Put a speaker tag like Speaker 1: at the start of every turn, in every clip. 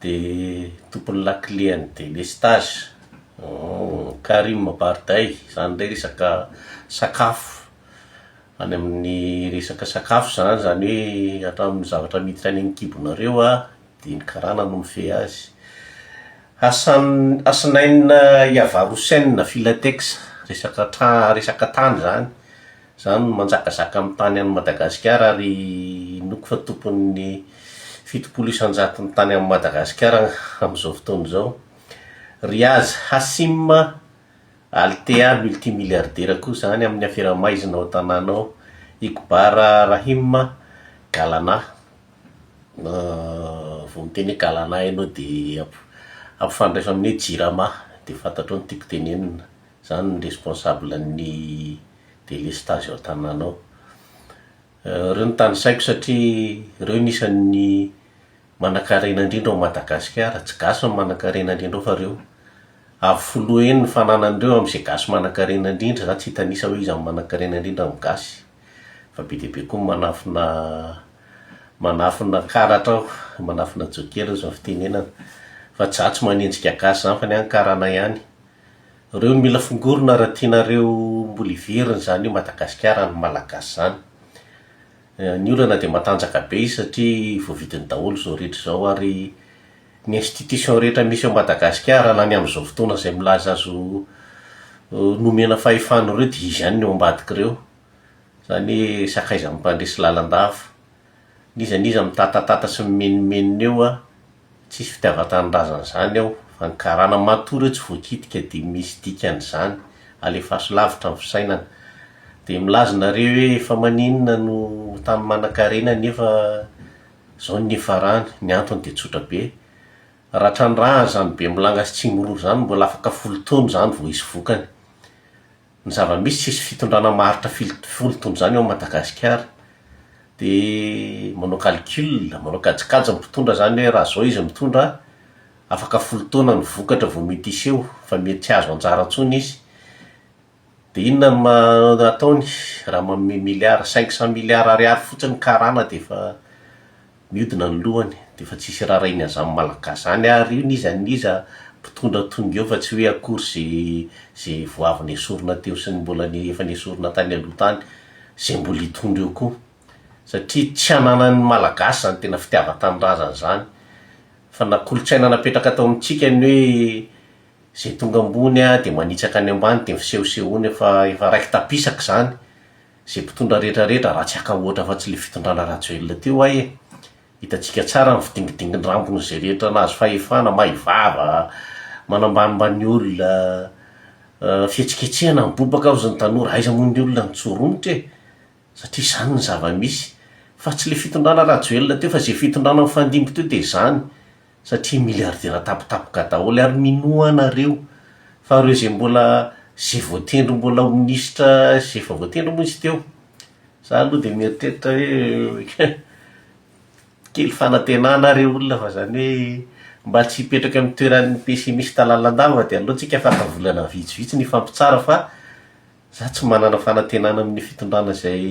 Speaker 1: dia tompon'ny lakile an'ny delestage Karim Barday zany ndray resaka sakafo any amin'ny resaka sakafo zany, zany hoe hatramin'ny zavatra miditra any ankibonareo a dia ny karana no mifehy azy Hassan Hasnain Yavar Hussain Filatex resaka tra- resaka tany zany Zany no manjakazaka amin'ny tany any Madagasikara ary inoako fa tompon'ny fitopolo isan-jato ny tany any Madagasikara amin'izao fotoana izao. Riaz Hassim, Althea multimilliardaire koa zany amin'ny afera maizina ao an-tanàna ao. Iqbar Rahim, Galana, vao miteny hoe Galana ianao dia ampifandraiso amin'ny hoe Jirama dia fantatrao ny tiako tenenina. Zany ny responsable ny delestazy ao an-tanàna ao. Ireo no tanisaiko satria ireo no isan'ny manankarena indrindra ao Madagasikara. Tsy gasy no manankarena indrindra ao fa ireo. Avo folo heny ny fananan'ireo amin'izay gasy manankarena indrindra. Izaho tsy hitanisa hoe iza no manankarena indrindra amin'ny gasy fa be dia be koa ny manafina manafina karatra ao, manafina jokera hoy izao ny fitenenana. Fa tsy izaho tsy manenjika gasy izany fa ny ahy ny karana ihany. Reo no mila fongorona raha tianareo mbola hiverina izany eo Madagasikara an'ny Malagasy izany. Ny olana dia matanjaka be izy satria voavidiny daholo izao rehetra izao ary ny institution rehetra misy ao Madagasikara na ny amin'izao fotoana izay milaza azy ho nomena fahefana ireo dia izy ihany no eo ambadik'ireo. Izany hoe sakaizan'ny mpandresy lalandava. N'iza n'iza mitatatata sy mimenomenona eo an. Tsisy fitiavan-tanindrazana zany ao fa ny karana matoa reo tsy voakitika de misy dikany zany alefaso lavitra ny fisainana de milaza nareo hoe efa maninona no tany manakarena nefa zao ny niafarany ny antony de tsotra be raha trandrahana zany bemilanga sy tsimiroro zany mbola afaka folo taona zany vao hisy vokany ny zava-misy tsisy fitondrana maharitra folo taona izany ao Madagasikara dia manao calcul, manao kajikajy ny mpitondra izany hoe raha izao izy mitondra afaka folo taona ny vokatra vao mety hiseho fa mety tsy hahazo anjara intsony izy dia inona no ma- ataony raha manome milliard, cinq cent milliard ariary fotsiny ny karana dia efa Miodina ny lohany de efa tsisy rarainy azany malagasy zany ary io n'iza n'iza mpitondra tonga eo fa tsy hoe akory ze ze vao avy nesorina teo sy ny mbola efa nesorina tany aloha tany ze mbola hitondra eo koa satria tsy ananan'ny malagasy zany tena fitiavan-tanindrazana zany fa na kolotsaina napetraka tao amintsika ny hoe ze tonga ambony a de manitsaka ny ambany de misehosehoana efa efa raiki-tapisaka zany Ze mpitondra rehetra rehetra ratsy haka ohatra fa tsy le fitondrana Rajoelina teo ay e! Hitantsika tsara ny fidingidinginy rambony ze rehetra nahazo fahefana, may vava, manambanimbany ny olona, fihetsiketsehana mibobaka hozy ny tanora, aiza moa ny olona nitsoromotra e! Satria izany ny zava-misy, fa tsy le fitondrana Rajoelina teo fa ze fitondrana mifandimby teo dia izany, satria miliardera tampotampoka daholo ary minoa anareo fa ireo izay mbola izay voatendry mbola ho minisitra izay efa voatendry moa izy teo za aloha dia mieritreritra hoe kely fanantenana ary eo olona fa izany hoe mba tsy hipetraka amin'ny toeran'ny pessimiste lalandava dia aleontsika fara volana vitsivitsy ny hifampitsara fa za tsy manana fanantenana amin'ny fitondrana izay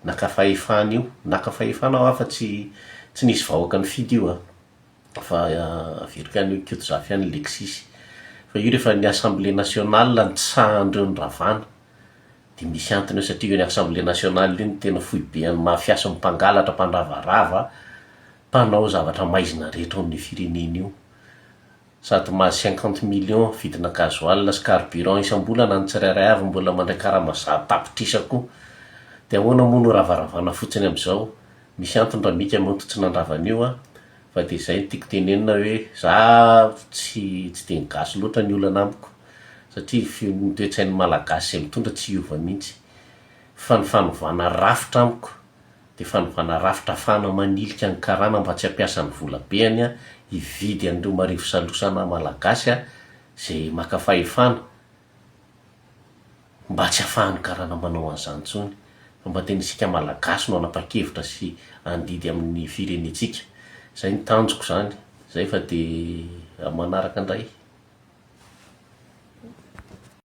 Speaker 1: Naka fahefana io. Naka fahefana hoa fa tsy tsy nisy vahoaka nifidy io an! Fa virika an'i Koto Zafy any Lexisy. Fa io rehefa ny Assemblée Nationale no tsy sahan'ireo ny Ravana dia misy antony eo satria io ny Assemblée Nationale io no tena foiben'ny mafia sy ny mpangalatra, mpandravarava, mpanao zavatra maizina rehetra ao amin'io firenena io. sady mahazo cinquante millions vidina gasoil sy carburant isam-bolana ny tsirairay avy mbola mandray karama zato tapitrisa koa dia ahoana moa no ravaravana fotsiny amin'izao, misy antony Ramika moa tsy nandrava an'io a, fa dia izay no tiako tenenina hoe za tsy tsy dia gasy loatra ny olana amiko satria feo ny toe-tsain'ny malagasy izay mitondra tsy hiova mihitsy fa ny fanovana rafitra amiko dia fanovana rafitra afahana manilika ny karana mba tsy hampiasa ny volabeany hividy an'ireo marivo salosana Malagasy izay maka fahefana mba tsy hahafahan'ny karana manao an'izany intsony fa mba tena isika Malagasy no hanapa-kevitra sy handidy amin'ny firenentsika. Izay ny tanjoko izany. Izay fa dia amin'ny manaraka indray.